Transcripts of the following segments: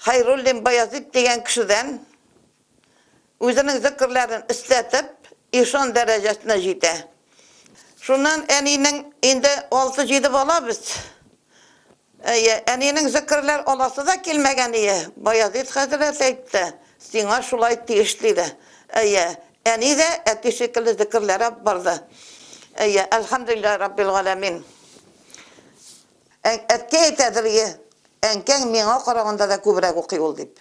Хәйруллин Баязит дигән кешедән үзенең зекерләрен эстәтеп, ишан дәрәҗәсенә җитә. Шуннан әнинең инде алты-җиде бала без. Әйе, әнинең зекерләр аласы да килмәгәние, Баязит хәзрәт әйтте, сиңа шулай тиеш диде. Әйе, әни дә әти шикелле зекерләр алып барды. Әйе, әлхәмдүлилләһи раббил галәмин. Әң, әткәй әйтәдер, Йә, әнкәң миңа караганда да күбрәк укый ул, дип.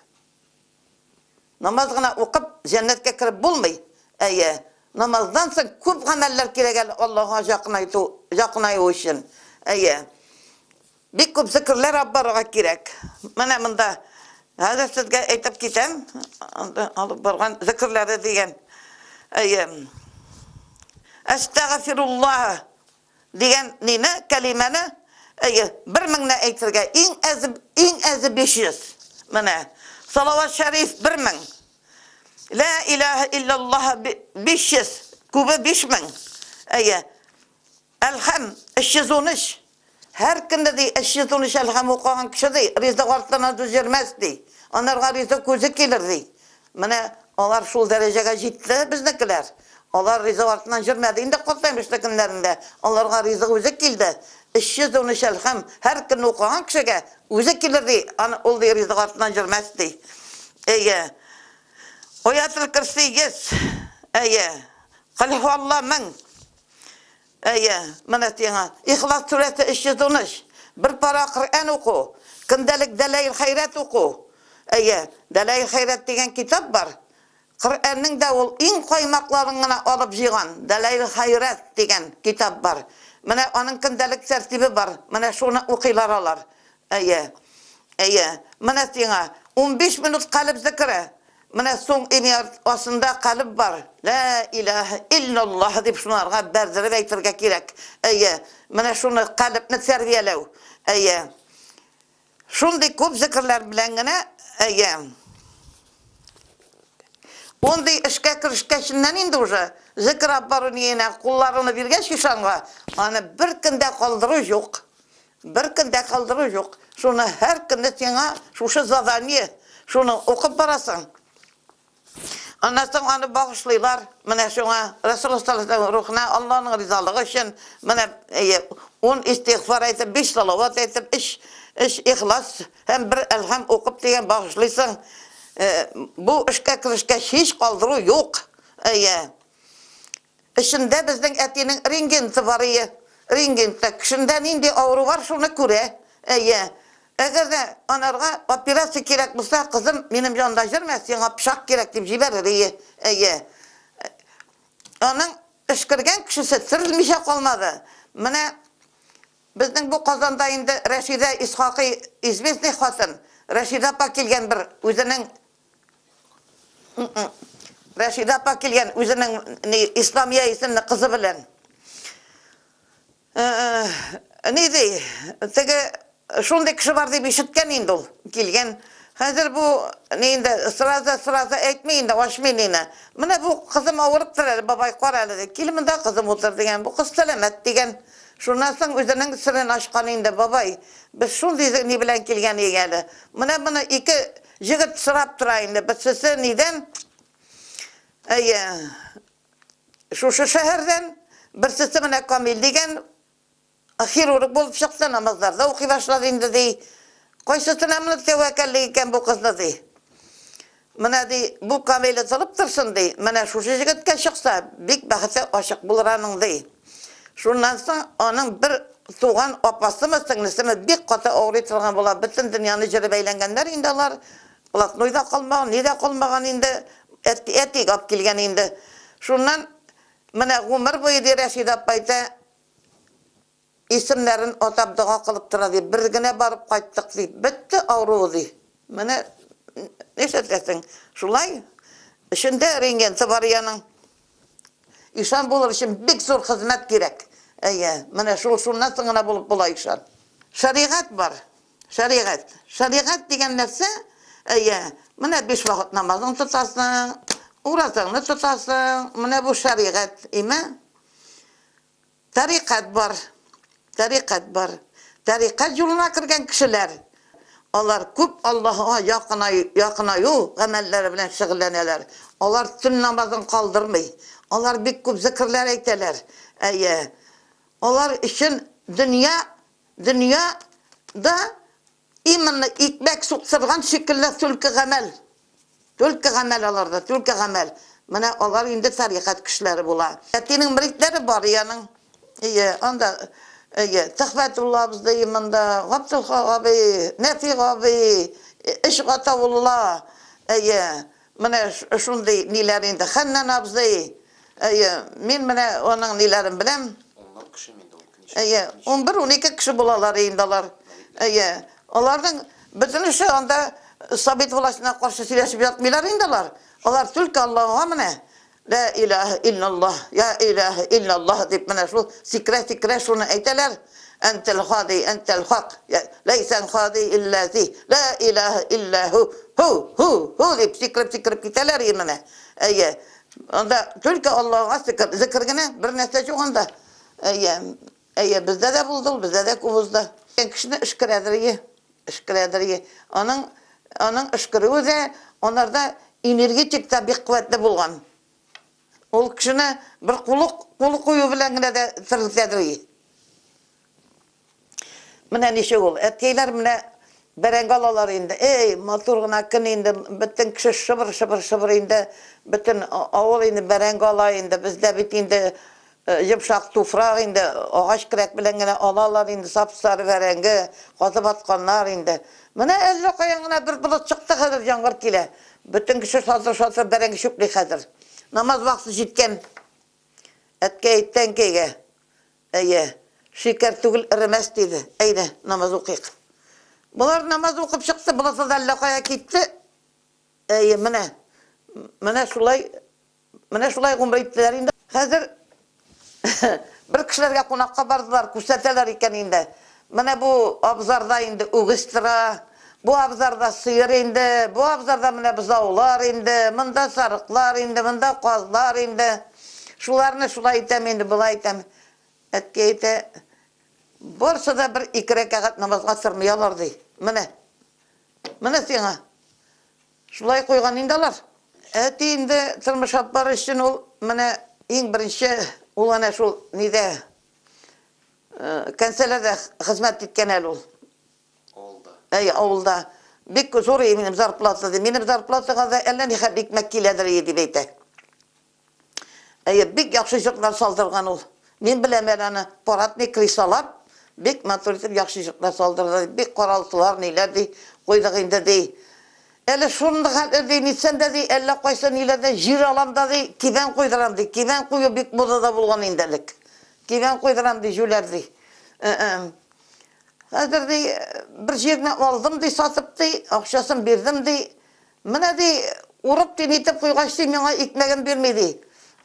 Намаз гына укып, җәннәткә кереп булмый. Әйе, намаздан соң күп гамәлләр кирәк әле Аллаһыга җакынайту, җакынаю өчен. Әйе. Бик күп зекерләр алып барырга кирәк. Менә монда хәзер сезгә әйтеп китәм, анда алып барган зекерләре дигән. Әйе. Әстәгъфируллаһ Дигән нине, кәлимәне, әйе, бер меңне әйтергә, иң әзе, иң әзе биш йөз. Менә, салават шәриф бер мең. Лә иләһә илляллаһ биш йөз, күбе биш мең. Әйе. Әлхәм, өч йөз унөч. Һәр көнне, ди, өч йөз унөч әлхәм укыган кеше, ди, ризык артыннан җирмәс, ди. Анарга ризык үзе килер, ди. Менә алар шул дәрәҗәгә җитте, безнекеләр. Алар ризык артыннан җөрмәде инде Картаймышлы көннәрендә. Аларга ризык үзе килде. Эшче зуны шәл һәм һәр көнне укыган кешегә үзе килер, ди. Аны ул, ди, ризык артыннан җөрмәс, ди. Әйе. Аятел-Көрси йөз. Әйе. Колһуалла мең. Әйе, менә сиңа Ихлас сүрәсе 313, бер пара Коръән уку, көндәлек Дәлаил хәйрәт уку. Әйе, Дәлаил хәйрәт дигән китап бар. Коръәннең дә ул иң каймакларын гына алып җыйган Дәлаил хәйрәт дигән китап бар. Менә аның көндәлек тәртибе бар, менә шуны укыйлар алар. Әйе. Әйе. Менә сиңа унбиш минут калеб зекере. Менә соң имя артында калеб бар. Лә иләһә илләллаһ дип шунарга бәрдереп әйтергә кирәк. Әйе. Менә шуны, калебне тәрбияләү. Әйе. Шундый күп зекерләр белән генә, әйе. Ундый эшкә керешкәченнән инде уже, зекер аппару ниенә кулларыңны биргәч ишанга, аны беркем дә калдыру юк. Бер көн дә калдыру юк. Шуны һәр көнне сиңа шушы задание, шуны укып барасың. Аннан соң аны багышлыйлар. Менә шуңа, Рәсулла саллаллаһу галәйһи ва сәлләм рухына Аллаһның ризалыгы өчен, менә ун истигъфар әйтеп, биш салават әйтеп, өч өч Ихлас һәм бер Әлхәм укып дигән багышлыйсың. Бу эшкә керешкәч, һич калдыру юк. Әйе. Эчендә безнең әтинең рингенты бар, әйе. Рингенты. Кешендә нинди авыру бар, шуны күрә. Әйе. Әгәр дә анарга операция кирәк булса, кызым, минем янда йөрмә, сиңа пычак кирәк, дип җибәрер, әйе. Әйе. Аның эшкергән кешесе терелмичә калмады. Менә безнең бу Казанда инде Рәшидә Исхакый известный хатын. Рәшидә апа килгән бер үзенең Рәшидә апа килгән үзенең ни Исламия исемле кызы белән. Э, э, ни ди? Теге шундый кеше бар дип ишеткән инде ул. Килгән. Хәзер бу ни инде сразу сразу әйтми инде ашмый нина. Менә бу кызым авырып тора әле бабай кара әле ди. Кил монда кызым утыр дигән. Бу кыз сәламәт дигән. Шуннан соң үзенең сырын ашкан инде бабай. Без шундый ни белән килгән иек әле. Менә моны ике Җегет сорап тора инде, берсесе нидән, әйе, шушы шәһәрдән, берсесе менә Камил дигән, хирург булып чыкты, намазларда укый башлады инде, ди. Кайсысына менә тәвәккәллек икән бу кызны, ди. Менә, ди, бу Камиле тылып торсын, ди, менә шушы җегеткә чыкса, бик бәхете ачык булыр аның, ди. Шуннан соң аның бер туган апасымы, сеңлесеме бик каты авырый торган була. Бөтен дөньяны җырып әйләнгәннәр инде алар. Блатной да калмаган, ни дә калмаган инде. Әти, әти гап килгән инде. Шуннан менә гомер буе, ди, Рәшидә апа әйтә, исемнәрен атап дога кылып тора, ди. Бер генә барып кайттык, ди. Бетте авыруы, ди. Менә нишләтәсең, шулай. Эчендә рентгенсы бар иянең. Ишан булыр өчен бик зур хезмәт кирәк. Әйе, менә шул шуннан соң гына булып була ишан. Шәригать бар. Шәригать. Шәригать дигән нәрсә, әйе, менә биш вакыт намазын тотасың, уразаңны тотасың, менә бу шәригать име? Тарикать бар, тарикать бар. Тарикать юлына кергән кешеләр, алар күп Аллаһыга якынаю, якынаю гамәлләре белән шөгыльләнәләр. Алар төн намазын калдырмый. Алар бик күп зикерләр әйтәләр. Әйе. Алар өчен дөнья, дөнья да Именно икмәк суктырган шикелле түлке гамәл. Түлке гамәл аларда, түлке гамәл. Менә алар инде тарикать кешеләре була. Әтинең мөридләре бар и аның. Ие, анда, ие, Төхфәтулла абзый именно, Габделхак абый, Нәфи абый, Эшгатаулла, ие. Менә шундый ниләр инде Хәннан абзый. Әйе, мин менә аның ниләрен беләм. Унлап кешеме инде ул? Әйе, унбер-унике кеше булалар инде алар. Әйе, аларның бөтенесе анда совет властена каршы сөйләшеп ятмыйлар инде алар. Алар түлке Аллага менә. Лә иләһә илләллаһ, йә иләһә илләллаһ дип менә шул сикерә-сикерә шуны әйтәләр, әнтәл хади, әнтәл хак, йә ләйсәл хади илләзи, лә иләһә илләһу, һу, һу, һу дип сикереп-сикереп китәләр и менә. Әйе. Анда түлке Аллага сикер, зекер генә, бернәрсә җук анда. Әйе. Әйе, бездә дә булды ул, бездә дә күп узды. Икән кешене өшкерәдерие, өшкерәдерие. Аның, аның өшкерүе дә анарда энергетик та бик куәтле булган. Ул кешене бер кулы, кулы кую белән генә дә терелтәдерие. Менә ничек ул. Әткәйләр менә бәрәңге алалар инде. Эй, матур гына көн инде, бөтен кеше шыбыр-шыбыр-шыбыр инде, бөтен авыл инде бәрәңге ала инде. Бездә бит инде Йомшак туфрак инде, агач келәт белән генә алалар инде, сап-сары бәрәңге, казып атканнар инде. Менә әллә каян гына бер болыт чыкты, хәзер яңгыр килә. Бөтен кеше шатыр-шатыр бәрәңге чүпли хәзер. Намаз вакыты җиткән. Әткәй, тәңкәйгә, Әйе, шикәр түгел, эремәс, диде. Әйдә, намаз укыйк. Болар намаз укып чыкты, болыты да әллә кая китте. Әйе, менә, менә шулай Менә шулай гомер иттеләр инде. Хәзер бер кешеләргә кунакка бардылар, күрсәтәләр икән инде. Менә бу абзарда инде үгез тора, бу абзарда сыер инде, бу абзарда менә бозаулар инде, монда сарыклар инде, монда казлар инде. Шуларны шулай итәм инде, болай итәм. Әткәй әйтә, барысы да бер ике рәкәгать намазга тырмый алар, ди. Менә. Менә сиңа. Шулай куйган инде алар. Әти инде тормыш алып барыр өчен ул менә иң беренче ул әнә шул нидә, кәнсәләрдә хезмәт иткән әле ул. Авылда. Әй, авылда. Бик зур и минем зарплата, ди. Минем зарплатага да әллә нихәтле икмәк киләдер и, дип әйтә. Әйе, бик яхшы җырлар салдырган ул. Мин беләм әле аны, парадный кресалар бик матур итеп яхшы җырлар салдырды, ди, бик каралдылар, ниләр ди, куйдык инде, ди. Әле шундый хәтле, ди, нитсәм дә, ди, әллә кайсы ниләрдән җир алам да, ди, кибән куйдырам, ди. Кибән кую бик модада булган инде элек. Кибән куйдырам, ди, җүләр, ди. Хәзер, ди, бер җирне алдым, ди, сатып, ди, акчасын бирдем, ди. Менә, ди, урып тин итеп куйгач, ди, миңа икмәгем бирми, ди.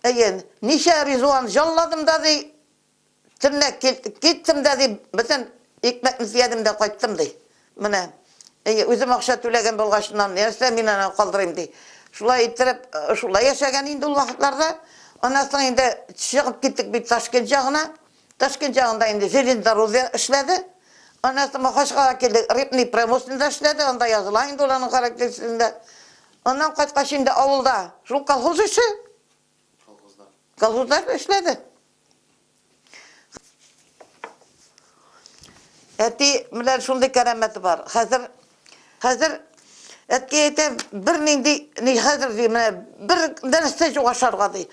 Әйе, ничә ризуан җалладым да, ди, төнлә киттем дә, ди, бөтен икмәкне төядем дә кайттым, ди. Менә, әйе, үзем акча түләгән булгачыннан, нәрсә мин аны калдырыйм, ди. Шулай иттереп, шулай яшәгән инде ул вакытларда. Аннан соң инде чыгып киттек бит Ташкент ягына. Ташкент ягында инде Железнодорожье эшләде. Аннан соң Махачкалага килдек, Рыбный промышленныйда эшләде, анда языла инде ул аның характеристикасында. Аннан кайткач инде авылда шул колхоз эше, Колхозда. колхозда эшләде. Әти белән шундый кәрамәте бар, хәзер Хәзер әткәй әйтә, бернинди, ни хәзер ди, менә бер нәрсә юк ашарга ди.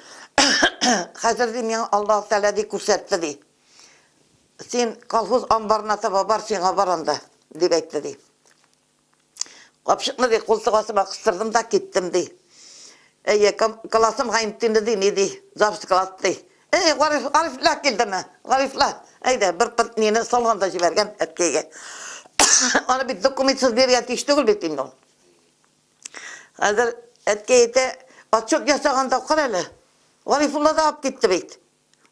Хәзер ди, миңа Аллаһ Тәгалә ди күрсәтте ди. Син колхоз амбарына таба бар, сиңа бар анда, дип әйтте ди. Капчыкны ди култык астыма кыстырдым да киттем ди. Әйе, классым гаимтинде ди, ни ди, завсклад ди. Әй, Гариф, Гарифләр килдеме? Гарифләр, әйдә, бер пырт мине салганда җибәргән әткәйгә. Аны бит документсыз биргән тиеш түгел бит инде ул. Хәзер әткәй әйтә, отчет ясаганда кара әле. Гарифулла да алып китте бит.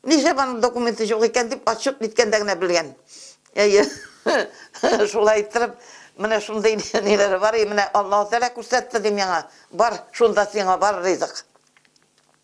Нишләп аның документы юк икән дип отчет биткәндә генә белгән. Әйе. Шулай иттереп, менә шундый ниләре бар, и менә Аллаһу Тәгалә күрсәтте дим яңа. Бар, шунда сиңа бар ризык.